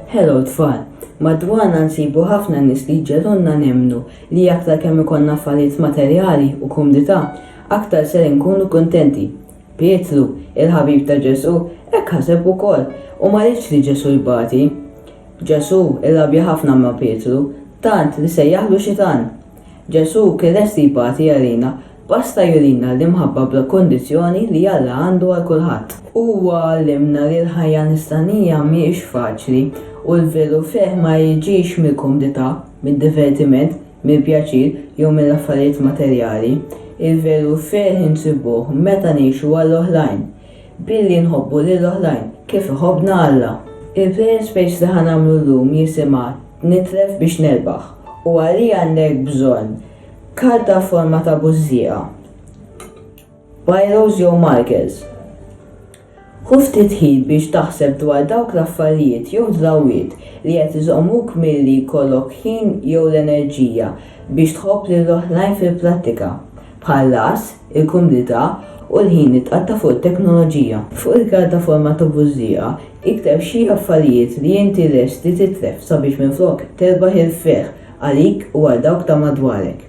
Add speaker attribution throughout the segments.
Speaker 1: Hello tfal, madwarna nsibu ħafna nies li jġelunna nemmnu li aktar kemm ikollna affarijiet materjali u kumdità, aktar ser inkunu kuntenti. Pietru, il-ħabib ta' Ġesù, hekk ħaseb ukoll u ma riedx li Ġesù jbati. Ġesù rrabja ħafna ma' Pietru, tant li sejjaħlu xitan. Ġesù kien lest jibati għalina, basta jurina l-imħabba bla kundizzjoni li Alla għandu għal kulħadd. Huwa għallimna li l-ħajja nisranija mhijiex faċli u l-veru ferħ ma jiġix mill-kumdità, mid-divertiment, mill-pjaċir jew mill-affarijiet materjali. Il-veru ferħ insibuh meta ngħixu għall-oħrajn, Billi nħobbu lil oħrajn kif iħobbna Alla. Il-plejer space li ħa nagħmlu llum jisimha Nitlef biex nerbaħ u għalih għandek bżonn karta f'forma ta' bużżieqa, bajros jew markers. Ħu ftit ħin biex taħseb dwar dawk l-affarijiet jew drawwiet li qed iżommuk milli jkollok ħin jew l-enerġija biex tħobb lil oħrajn fil-prattika. bħall-għażż, il-kumdità u l-ħin li tqatta' fuq it-teknoloġija. Fuq il-pjattaforma ta' Bużżieqa ikteb xi affarijiet li inti lest li titlef sabiex minflok terbaħ il-ferħ għalik u għal dawk ta' madwarek.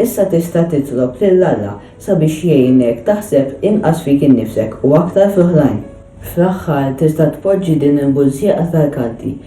Speaker 1: Issa tista' titlob lil Alla sabiex jgħinek taħseb inqas fik innifsek u aktar fl-oħrajn. Fl-aħħar tista' tpoġġi din il-bużżieqa tal-kanti